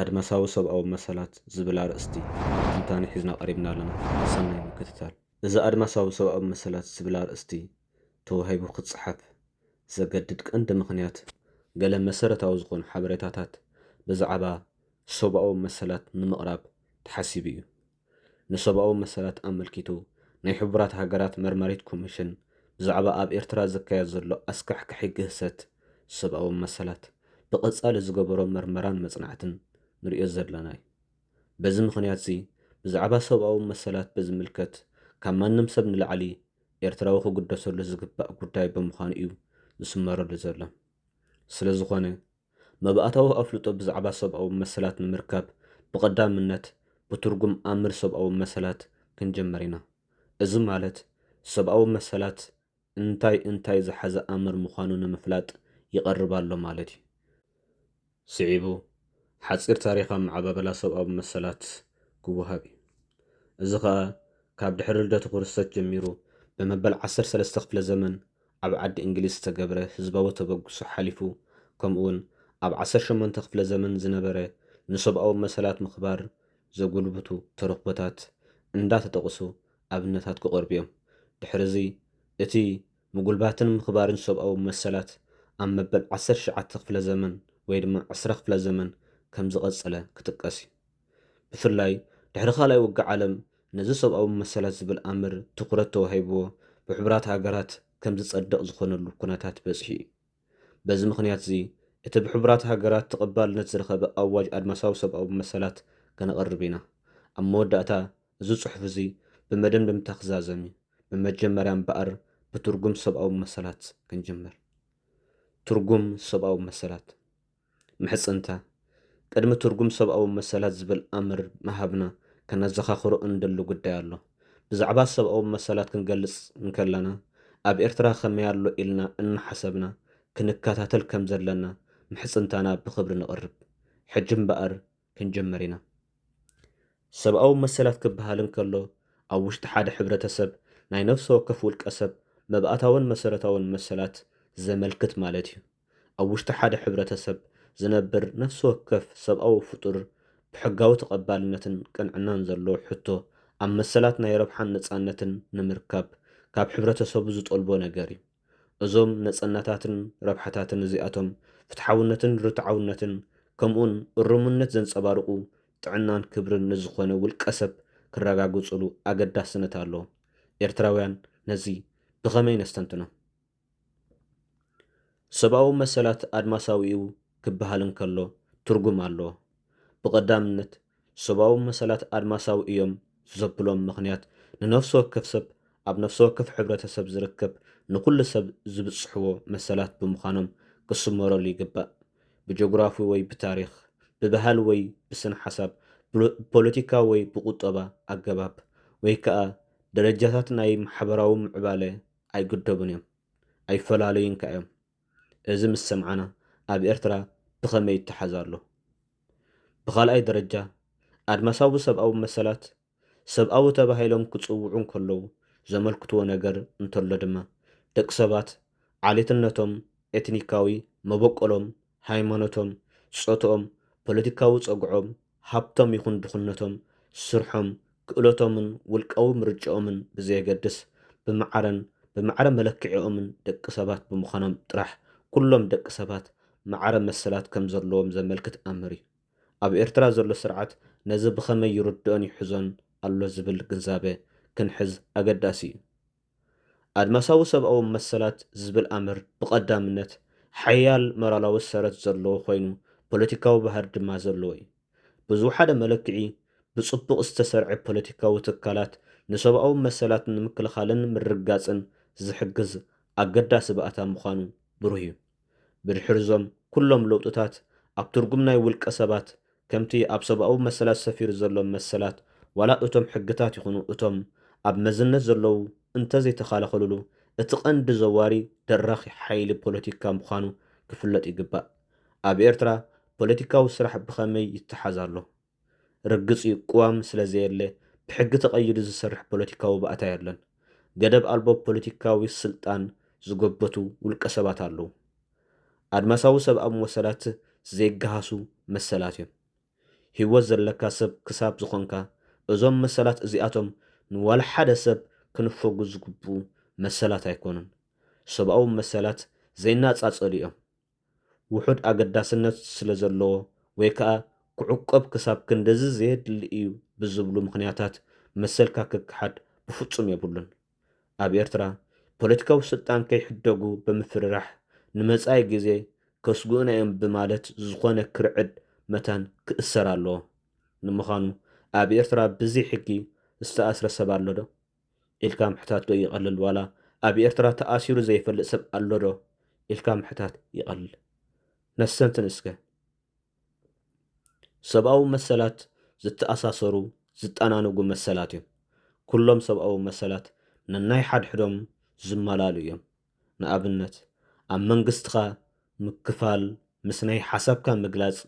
ኣድማሳዊ ሰብኣዊ መሰላት ዝብል ኣርእስቲ ትንታኔ ሒዝና ቀሪብና ኣለና ሰናይ ምክትታል። እዚ ኣድማሳዊ ሰብኣዊ መሰላት ዝብል ኣርእስቲ ተዋሂቡ ክጸሓፍ ዘገድድ ቀንዲ ምኽንያት ገለ መሰረታዊ ዝኾኑ ሓበሬታታት ብዛዕባ ሰብኣዊ መሰላት ንምቕራብ ተሓሲቡ እዩ። ንሰብኣዊ መሰላት ኣመልኪቱ ናይ ሕቡራት ሃገራት መርማሪት ኮሚሽን ብዛዕባ ኣብ ኤርትራ ዝካየድ ዘሎ ኣስካሕካሒ ግህሰት ሰብኣዊ መሰላት ብቐጻሊ ዝገበሮ መርመራን መጽናዕትን ንርእዮ ዘለና'ዩ። በዚ ምኽንያት'ዚ ብዛዕባ ሰብኣዊ መሰላት ብዝምልከት ካብ ማንም ሰብ ንላዕሊ ኤርትራዊ ክግደሰሉ ዝግባእ ጉዳይ ብምዃኑ'ዩ ዝስመረሉ ዘሎ። ስለዝኾነ። መባእታዊ ኣፍልጦ ብዛዕባ ሰብኣዊ መሰላት ንምርካብ ብቐዳምነት ብትርጉም ኣምር ሰብኣዊ መሰላት ክንጀምር ኢና። እዚ ማለት ሰብኣዊ መሰላት እንታይ እንታይ ዝሓዘ ኣምር ምዃኑ ንምፍላጥ ይቐርብ ኣሎ ማለት እዩ። ስዒቡ ሓጺር ታሪኽ ኣመዓባብላ ሰብኣዊ መሰላት ክወሃብ እዩ። እዚ ከኣ ካብ ድሕሪ ልደቱ ክርስቶስ ጀሚሩ ብመበል ዓሰርተ ሰለስተ ክፍለ ዘመን ኣብ ዓዲ እንግሊዝ ዝተገብረ ህዝባዊ ተበግሶ ሓሊፉ ከምኡውን ኣብ ዓሰርተ ሸሞንተ ክፍለ ዘመን ዝነበረ ንሰብኣዊ መሰላት ምኽባር ዘጉልብቱ ተረኽቦታት እንዳ ተጠቕሱ ኣብነታት ክቐርቡ እዮም። ድሕሪ እዚ እቲ ምጉልባትን ምኽባርን ሰብኣዊ መሰላት ኣብ መበል ዓሰርተ ትሽዓተ ክፍለ ዘመን ወይ ድማ ዕስራ ክፍለ ዘመን ከም ዝቐጸለ ክጥቀስ እዩ። ብፍላይ ድሕሪ ካልኣይ ውግእ ዓለም ነዚ ሰብኣዊ መሰላት ዝብል ኣምር ትኹረት ተዋሂብዎ ብሕቡራት ሃገራት ከም ዝጸድቕ ዝኾነሉ ኩነታት በጺሑ እዩ። በዚ ምኽንያት'ዚ እቲ ብሕቡራት ሃገራት ተቐባልነት ዝረኸበ ኣዋጅ ኣድማሳዊ ሰብኣዊ መሰላት ከነቕርብ ኢና። ኣብ መወዳእታ እዚ ጽሑፍ'ዚ ብመደምደምታ ክዛዘም እዩ። ብመጀመርያ እምበኣር ብትርጉም ሰብኣዊ መሰላት ክንጅምር። ትርጉም ሰብኣዊ መሰላት። ምሕጽንታ፣ ቅድሚ ትርጉም ሰብኣዊ መሰላት ዝብል ኣምር ምሃብና ከነዘኻኽሮ እንደሊ ጉዳይ ኣሎ። ብዛዕባ ሰብኣዊ መሰላት ክንገልጽ እንከለና፣ ኣብ ኤርትራ ከመይ ኣሎ ኢልና እናሓሰብና ክንከታተል ከም ዘለና ምሕጽንታና ብኽብሪ ነቕርብ። ሕጂ እምበኣር ክንጅምር ኢና። ሰብኣዊ መሰላት ክበሃል እንከሎ፣ ኣብ ውሽጢ ሓደ ሕብረተሰብ ናይ ነፍሰ ወከፍ ውልቀ ሰብ መባእታውን መሰረታውን መሰላት ዘመልክት ማለት እዩ። ኣብ ውሽጢ ሓደ ሕብረተሰብ ዝነብር ነፍሲ ወከፍ ሰብኣዊ ፍጡር ብሕጋዊ ተቐባልነትን ቅንዕናን ዘለዎ ሕቶ ኣብ መሰላት ናይ ረብሓን ነጻነትን ንምርካብ ካብ ሕብረተሰቡ ዝጠልቦ ነገር እዩ። እዞም ነጸነታትን ረብሓታትን እዚኣቶም ፍትሓውነትን ርትዓውነትን ከምኡውን እሩምነት ዘንጸባርቑ ጥዕናን ክብርን ንዝኾነ ውልቀሰብ ክረጋግጹሉ ኣገዳስነት ኣለዎም። ኤርትራውያን ነዚ ብኸመይ ነስተንትኖ? ሰብኣዊ መሰላት ኣድማሳዊ'ዩ ክበሃል እንከሎ ትርጉም ኣለዎ። ብቐዳምነት ሰብኣዊ መሰላት ኣድማሳዊ እዮም ዘብሎም ምኽንያት ንነፍሲ ወከፍ ሰብ ኣብ ነፍሲ ወከፍ ሕብረተሰብ ዝርከብ ንኹሉ ሰብ ዝብጽሕዎ መሰላት ብምዃኖም ክስመረሉ ይግባእ። ብጆግራፊ ወይ ብታሪኽ፣ ብባህሊ ወይ ብስነ-ሓሳብ፣ ብፖለቲካዊ ወይ ብቁጠባ ኣገባብ ወይ ከኣ ደረጃታት ናይ ማሕበራዊ ምዕባለ ኣይግደቡን እዮም ኣይፈላለዩን ከኣ እዮም እዚ ምስ ሰምዓና ኣብ ኤርትራ ብኸመይ ይተሓዝ ኣሎ? ብኻልኣይ ደረጃ ኣድማሳዊ ሰብኣዊ መሰላት ሰብኣዊ ተባሂሎም ክጽውዑ እንከለዉ ዘመልክትዎ ነገር እንተሎ ድማ ደቂ ሰባት ዓሌትነቶም ኤትኒካዊ መበቆሎም ሃይማኖቶም ጾትኦም ፖለቲካዊ ጸግዖም ሃብቶም ይኹን ድኽነቶም፣ ስርሖም፣ ክእለቶምን ውልቃዊ ምርጭኦምን ብዘየገድስ፣ ብማዕረን ብማዕረ መለክዒኦምን ደቂ ሰባት ብምዃኖም ጥራሕ ኩሎም ደቂ ሰባት ማዕረ መሰላት ከም ዘለዎም ዘመልክት ኣምር እዩ። ኣብ ኤርትራ ዘሎ ስርዓት ነዚ ብኸመይ ይርድኦን ይሕዞን ኣሎ ዝብል ግንዛበ ክንሕዝ ኣገዳሲ እዩ። ኣድማሳዊ ሰብኣዊ መሰላት ዝብል ኣምር ብቐዳምነት ሓያል ሞራላዊ ሰረት ዘለዎ ኮይኑ ፖለቲካዊ ባህሪ ድማ ዘለዎ እዩ። ብዝወሓደ መለክዒ ብጽቡቕ ዝተሰርዐ ፖለቲካዊ ትካላት ንሰብኣዊ መሰላት ንምክልኻልን ምርግጋጽን ዝሕግዝ ኣገዳሲ ባእታ ምዃኑ ብሩህ እዩ። ብድሕሪ'ዞም ኩሎም ለውጥታት፣ ኣብ ትርጉም ናይ ውልቀ ሰባት፣ ከምቲ ኣብ ሰብኣዊ መሰላት ሰፊሩ ዘሎ መሰላት፣ ዋላ እቶም ሕግታት ይኹኑ እቶም ኣብ መዝነት ዘለዉ እንተዘይተኸላኸሉሉ፣ እቲ ቀንዲ ዘዋሪ ደራኺ ሓይሊ ፖለቲካ ምዃኑ ክፍለጥ ይግባእ። ኣብ ኤርትራ ፖለቲካዊ ስራሕ ብኸመይ ይተሓዝ ኣሎ? ርግጽ'ዩ ቅዋም ስለ ዘየለ ብሕጊ ተቐይዱ ዝሰርሕ ፖለቲካዊ ባእታ የለን። ገደብ ኣልቦ ፖለቲካዊ ስልጣን ዝጎበቱ ውልቀ ሰባት ኣለዉ። ኣድማሳዊ ሰብኣዊ መሰላት ዘይገሃሱ መሰላት'ዮም። ህይወት ዘለካ ሰብ ክሳብ ዝኾንካ እዞም መሰላት እዚኣቶም ንዋላ ሓደ ሰብ ክንፈጉ ዝግብኡ መሰላት ኣይኮኑን። ሰብኣዊ መሰላት ዘይናጻጸሉ'ዮም። ውሑድ ኣገዳስነት ስለ ዘለዎ ወይ ከኣ ክዕቆብ ክሳብ ክንድዚ ዘየድሊ እዩ ብዝብሉ ምኽንያታት መሰልካ ክከሓድ ብፍጹም የብሉን። ኣብ ኤርትራ ፖለቲካዊ ስልጣን ከይሕደጉ ብምፍርራሕ ንመጻኢ ግዜ ከስግኡና እዮም ብማለት ዝኾነ ክርዕድ መታን ክእሰር ኣለዎ። ንምዃኑ ኣብ ኤርትራ ብዘይ ሕጊ ዝተኣስረ ሰብ ኣሎዶ? ኢልካ ምሕታት ዶ ይቀልል ዋላ ኣብ ኤርትራ ተኣሲሩ ዘይፈልጥ ሰብ ኣሎ ዶ ኢልካ ምሕታት ይቀልል ነሰንትን እስከ ሰብኣዊ መሰላት ዝተኣሳሰሩ ዝጣናነጉ መሰላት እዮም ኩሎም ሰብኣዊ መሰላት ነናይ ሓድሕዶም ዝማላእሉ እዮም ንኣብነት ኣብ መንግስትኻ ምክፋል፣ ምስ ናይ ሓሳብካ ምግላጽ፣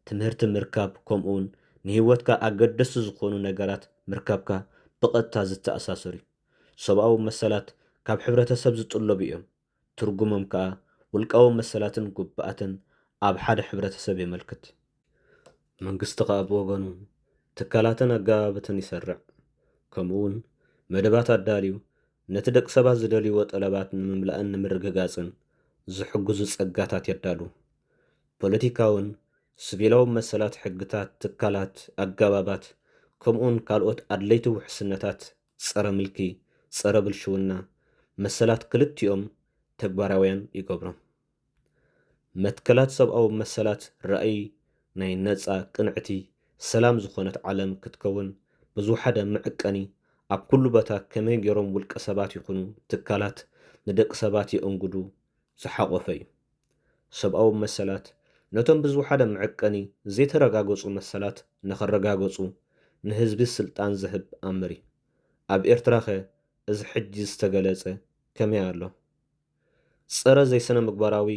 ትምህርቲ ምርካብ ከምኡውን ንህይወትካ ኣገደስቲ ዝኾኑ ነገራት ምርካብካ ብቐጥታ ዝተኣሳሰር እዩ። ሰብኣዊ መሰላት ካብ ሕብረተሰብ ዝጥለቡ እዮም፣ ትርጉሞም ከኣ ውልቃዊ መሰላትን ጉብኣትን ኣብ ሓደ ሕብረተሰብ የመልክት። መንግስቲ ከኣ ብወገኑ ትካላትን ኣገባብትን ይሰርዕ ከምኡ ውን መደባት ኣዳልዩ ነቲ ደቂ ሰባት ዝደልይዎ ጠለባት ንምምላእን ንምርግጋጽን ዝሕግዙ ጸጋታት የዳሉ። ፖለቲካውን ስቪላውን መሰላት ሕግታት፣ ትካላት፣ ኣገባባት ከምኡውን ካልኦት ኣድለይቲ ውሕስነታት ጸረ ምልኪ፣ ጸረ ብልሽውና፣ መሰላት ክልቲኦም ተግባራውያን ይገብሮም። መትከላት ሰብኣዊ መሰላት ራእይ ናይ ነጻ፣ ቅንዕቲ፣ ሰላም ዝኾነት ዓለም ክትከውን ብዝወሓደ መዕቀኒ ኣብ ኩሉ ቦታ ከመይ ገይሮም ውልቀ ሰባት ይኹኑ ትካላት ንደቂ ሰባት የእንግዱ ዝሓቖፈ እዩ። ሰብኣዊ መሰላት ነቶም ብዝወሓደ መዕቀኒ ዘይተረጋገጹ መሰላት ንኽረጋገጹ ንህዝቢ ስልጣን ዝህብ ኣምር እዩ። ኣብ ኤርትራኸ እዚ ሕጂ ዝተገለጸ ከመይ ኣሎ? ጸረ ዘይስነምግባራዊ፣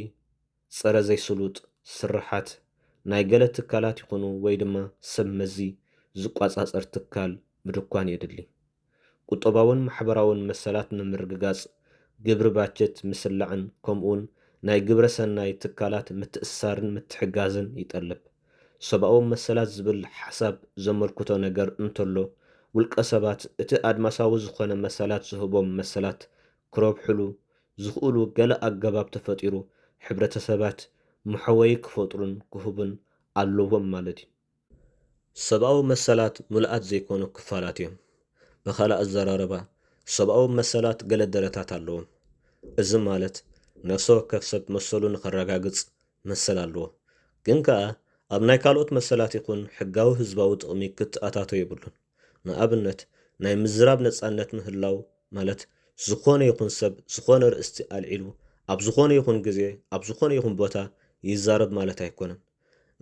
ጸረ ዘይስሉጥ ስርሓት ናይ ገለ ትካላት ይኹኑ ወይ ድማ ሰብ መዚ ዝቋጻጸር ትካል ምድኳን የድሊ። ቁጠባውን ማሕበራውን መሰላት ንምርግጋጽ ግብሪ ባጀት ምስላዕን ከምኡውን ናይ ግብረ ሰናይ ትካላት ምትእስሳርን ምትሕጋዝን ይጠልብ። ሰብኣዊ መሰላት ዝብል ሓሳብ ዘመልክቶ ነገር እንተሎ ውልቀ ሰባት እቲ ኣድማሳዊ ዝኾነ መሰላት ዝህቦም መሰላት ክረብሕሉ ዝኽእሉ ገለ ኣገባብ ተፈጢሩ ሕብረተሰባት መሕወዪ ክፈጥሩን ክህቡን ኣለዎም ማለት እዩ። ሰብኣዊ መሰላት ምሉኣት ዘይኮኑ ክፋላት እዮም። ብኻልእ ኣዘራርባ ሰብኣዊ መሰላት ገለ ደረታት ኣለዎም። እዚ ማለት ነፍሰ ወከፍ ሰብ መሰሉ ንኸረጋግጽ መሰል ኣለዎ። ግን ከኣ ኣብ ናይ ካልኦት መሰላት ይኹን ሕጋዊ ህዝባዊ ጥቕሚ ክተኣታቶ የብሉን። ንኣብነት ናይ ምዝራብ ነጻነት ምህላው ማለት ዝኾነ ይኹን ሰብ ዝኾነ ርእስቲ ኣልዒሉ ኣብ ዝኾነ ይኹን ግዜ ኣብ ዝኾነ ይኹን ቦታ ይዛረብ ማለት ኣይኮነን።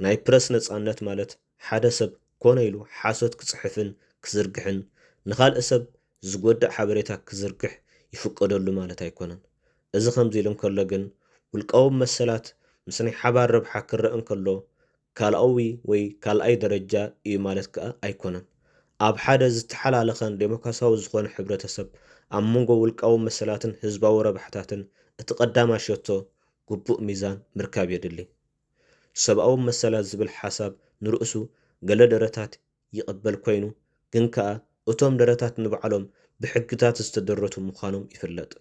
ናይ ፕረስ ነጻነት ማለት ሓደ ሰብ ኮነ ኢሉ ሓሶት ክጽሕፍን ክዝርግሕን ንኻልእ ሰብ ዝጎድእ ሓበሬታ ክዝርግሕ ይፍቀደሉ ማለት ኣይኮነን። እዚ ከምዚ ኢሉ እንከሎ ግን ውልቃዊ መሰላት ምስ ናይ ሓባር ረብሓ ክረእ እንከሎ ካልኣዊ ወይ ካልኣይ ደረጃ እዩ ማለት ከኣ ኣይኮነን። ኣብ ሓደ ዝተሓላለኸን ደሞክራስያዊ ዝኾነ ሕብረተሰብ፣ ኣብ መንጎ ውልቃዊ መሰላትን ህዝባዊ ረብሓታትን እቲ ቀዳማይ ሸቶ ግቡእ ሚዛን ምርካብ የድሊ። ሰብኣዊ መሰላት ዝብል ሓሳብ ንርእሱ ገለ ደረታት ይቕበል ኮይኑ ግን ከኣ እቶም ደረታት ንባዕሎም ብሕግታት ዝተደረቱ ምዃኖም ይፍለጥ።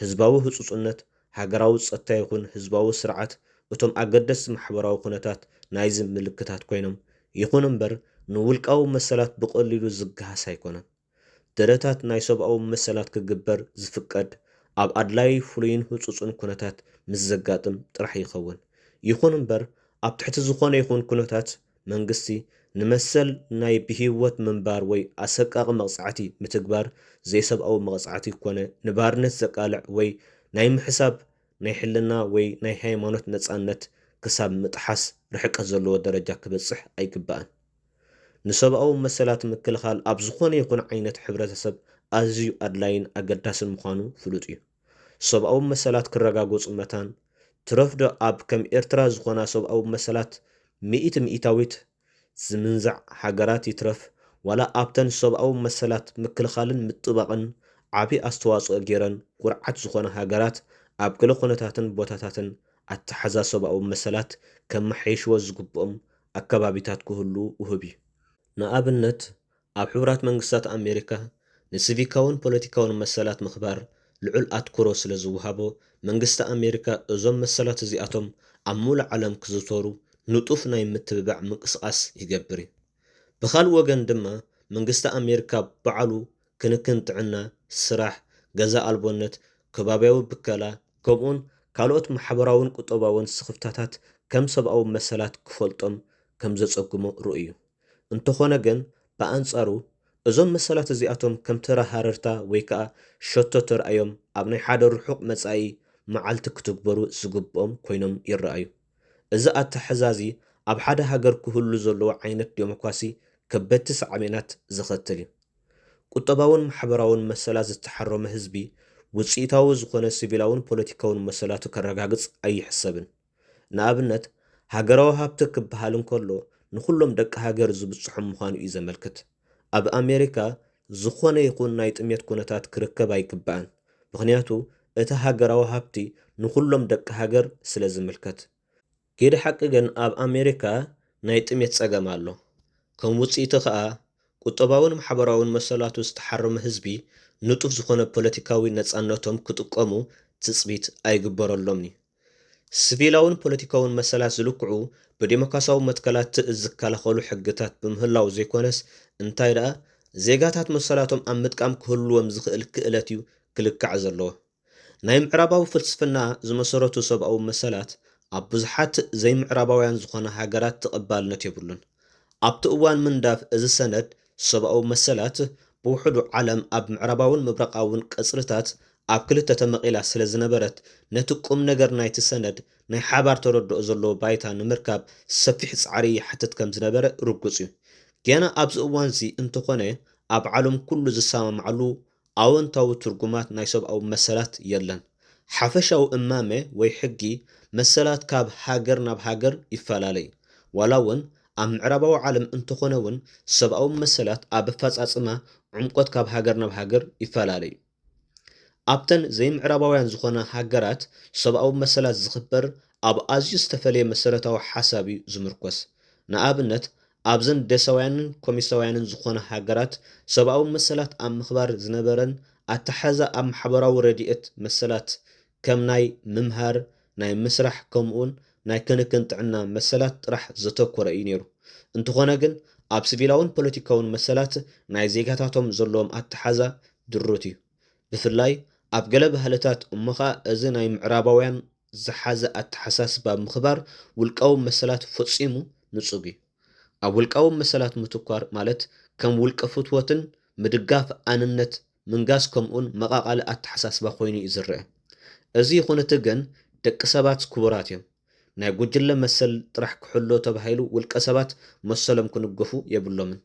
ህዝባዊ ህጹጹነት ሃገራዊ ጸጥታ ይኹን ህዝባዊ ስርዓት እቶም ኣገደስቲ ማሕበራዊ ኩነታት ናይዚ ምልክታት ኮይኖም፣ ይኹን እምበር ንውልቃዊ መሰላት ብቐሊሉ ዝገሃስ ኣይኮነን። ደረታት ናይ ሰብኣዊ መሰላት ክግበር ዝፍቀድ ኣብ ኣድላዪ ፍሉይን ህጹጽን ኩነታት ምስ ዘጋጥም ጥራሕ ይኸውን። ይኹን እምበር ኣብ ትሕቲ ዝኾነ ይኹን ኩነታት መንግስቲ ንመሰል ናይ ብህይወት ምንባር ወይ ኣሰቃቒ መቕጻዕቲ ምትግባር ዘይሰብኣዊ መቐጻዕቲ ኮነ ንባርነት ዘቃልዕ ወይ ናይ ምሕሳብ ናይ ሕልና ወይ ናይ ሃይማኖት ነጻነት ክሳብ ምጥሓስ ርሕቀት ዘለዎ ደረጃ ክበጽሕ ኣይግባእን። ንሰብኣዊ መሰላት ምክልኻል ኣብ ዝኾነ ይኹን ዓይነት ሕብረተሰብ ኣዝዩ ኣድላይን ኣገዳስን ምዃኑ ፍሉጥ እዩ። ሰብኣዊ መሰላት ክረጋገፁ መታን ትረፍ ዶ ኣብ ከም ኤርትራ ዝኾና ሰብኣዊ መሰላት ሚእቲ ሚኢታዊት ዝምንዛዕ ሃገራት ይትረፍ ዋላ ኣብተን ሰብኣዊ መሰላት ምክልኻልን ምጥባቕን ዓብይ ኣስተዋፅኦ ገይረን ኩርዓት ዝኾና ሃገራት ኣብ ገለ ኩነታትን ቦታታትን ኣተሓሕዛ ሰብኣዊ መሰላት ከመሓይሽዎ ዝግብኦም ኣከባቢታት ክህሉ ውሁብ እዩ። ንኣብነት፣ ኣብ ሕቡራት መንግስታት ኣሜሪካ ንሲቪካውን ፖለቲካውን መሰላት ምኽባር ልዑል ኣትኵሮ ስለ ዝወሃቦ፣ መንግስቲ ኣሜሪካ እዞም መሰላት እዚኣቶም ኣብ ምሉእ ዓለም ክዝውተሩ ንጡፍ ናይ ምትብባዕ ምንቅስቓስ ይገብር እዩ። ብኻልእ ወገን ድማ መንግስቲ ኣሜሪካ ባዕሉ ክንክን ጥዕና፣ ስራሕ፣ ገዛ ኣልቦነት፣ ከባብያዊ ብከላ፣ ከምኡውን ካልኦት ማሕበራውን ቁጠባውን ስኽፍታታት ከም ሰብኣዊ መሰላት ክፈልጦም ከም ዘጸግሞ ርኡይ'ዩ። እንተኾነ ግን ብኣንጻሩ እዞም መሰላት እዚኣቶም ከም ተራ ሃረርታ ወይ ከኣ ሸቶ ተራእዮም ኣብ ናይ ሓደ ርሑቕ መጻኢ መዓልቲ ክትግበሩ ዝግብኦም ኮይኖም ይረኣዩ። እዚ ኣተሐሕዛዚ ኣብ ሐደ ሃገር ክህሉ ዘለዎ ዓይነት ዴሞክራሲ ከበድቲ ሳዕቤናት ዘኸትል እዩ። ቁጠባውን ማሕበራውን መሰላት ዝተሐረሞ ህዝቢ ውፅኢታዊ ዝኾነ ሲቪላውን ፖለቲካውን መሰላቱ ከረጋግፅ ኣይሕሰብን። ንኣብነት ሃገራዊ ሃብቲ ክበሃል እንከሎ ንኹሎም ደቂ ሃገር ዝብፅሖም ምዃኑ እዩ ዘመልክት። ኣብ ኣሜሪካ ዝኾነ ይኹን ናይ ጥሜት ኩነታት ክርከብ ኣይግባእን ምኽንያቱ እቲ ሃገራዊ ሃብቲ ንኹሎም ደቂ ሃገር ስለ ዝምልከት። ጊደ ሓቂ ግን ኣብ ኣሜሪካ ናይ ጥሜት ጸገም ኣሎ። ከም ውጽኢቱ ከኣ ቁጠባውን ማሕበራውን መሰላቱ ዝተሓረመ ህዝቢ ንጡፍ ዝኾነ ፖለቲካዊ ነጻነቶም ክጥቀሙ ትጽቢት ኣይግበረሎምን'ዩ። ስቪላውን ፖለቲካውን መሰላት ዝልክዑ ብዴሞካሲያዊ መትከላት ትእዝ ዝከላኸሉ ሕግታት ብምህላው ዘይኮነስ እንታይ ደኣ ዜጋታት መሰላቶም ኣብ ምጥቃም ክህልዎም ዝኽእል ክእለት እዩ ክልካዕ ዘለዎ። ናይ ምዕራባዊ ፍልስፍና ዝመሰረቱ ሰብኣዊ መሰላት ኣብ ብዙሓት ዘይምዕራባውያን ዝኾና ሃገራት ተቐባልነት የብሉን። ኣብቲ እዋን ምንዳፍ እዚ ሰነድ፣ ሰብኣዊ መሰላት ብውሑዱ ዓለም ኣብ ምዕራባውን ምብራቓውን ቀጽርታት ኣብ ክልተ ተመቒላ ስለ ዝነበረት፣ ነቲ ቁምነገር ናይቲ ሰነድ ናይ ሓባር ተረድኦ ዘለዎ ባይታ ንምርካብ ሰፊሕ ጻዕሪ ይሓትት ከም ዝነበረ ርጉጽ እዩ። ጌና ኣብዚ እዋንዚ እንተኾነ ኣብ ዓለም ኩሉ ዝሰማማዓሉ ኣወንታዊ ትርጉማት ናይ ሰብኣዊ መሰላት የለን። ሓፈሻዊ እማመ ወይ ሕጊ መሰላት ካብ ሃገር ናብ ሃገር ይፈላለይ። ዋላ እውን ኣብ ምዕራባዊ ዓለም እንተኾነ እውን ሰብኣዊ መሰላት ኣብ ኣፈፃፅማ ዕምቆት ካብ ሃገር ናብ ሃገር ይፈላለ እዩ። ኣብተን ዘይምዕራባውያን ዝኾና ሃገራት ሰብኣዊ መሰላት ዝኽበር ኣብ ኣዝዩ ዝተፈለየ መሰረታዊ ሓሳብ እዩ ዝምርኮስ። ንኣብነት ኣብዘን ደሰውያንን ኮሚሰውያንን ዝኾና ሃገራት ሰብኣዊ መሰላት ኣብ ምኽባር ዝነበረን ኣተሓሕዛ ኣብ ማሕበራዊ ረዲኤት መሰላት ከም ናይ ምምሃር፣ ናይ ምስራሕ ከምኡውን ናይ ክንክን ጥዕና መሰላት ጥራሕ ዘተኮረ እዩ ነይሩ። እንተኾነ ግን ኣብ ስቪላውን ፖለቲካውን መሰላት ናይ ዜጋታቶም ዘለዎም ኣተሓሕዛ ድሩት እዩ። ብፍላይ ኣብ ገለ ባህልታት እሞ ኸኣ እዚ ናይ ምዕራባውያን ዝሓዘ ኣተሓሳስባ ምኽባር ውልቃዊ መሰላት ፈጺሙ ንጹግ እዩ። ኣብ ውልቃዊ መሰላት ምትኳር ማለት ከም ውልቀ ፍትወትን ምድጋፍ ኣንነት ምንጋስ ከምኡን መቓቓሊ ኣተሓሳስባ ኮይኑ እዩ ዝረኣ። እዚ ይኹንእቲ ግን ደቂ ሰባት ክቡራት እዮም። ናይ ጉጅለ መሰል ጥራሕ ክሕሎ ተባሂሉ ውልቀ ሰባት መሰሎም ክንገፉ የብሎምን።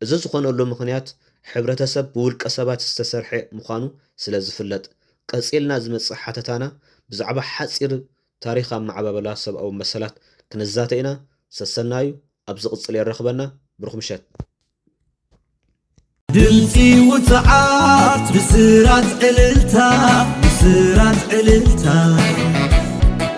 እዚ ዝኾነሉ ምኽንያት ሕብረተሰብ ብውልቀ ሰባት ዝተሰርሐ ምዃኑ ስለ ዝፍለጥ። ቀጺልና ዝመጽእ ሓተታና ብዛዕባ ሓጺር ታሪኽ ኣመዓባብላ ሰብኣዊ መሰላት ክንዛተ ኢና። ሰሰናዩ ኣብ ዝቕጽል የራኽበና። ብሩኽ ምሸት። ድምጺ ውጹዓት ብስራት ዕልልታ ብስራት ዕልልታ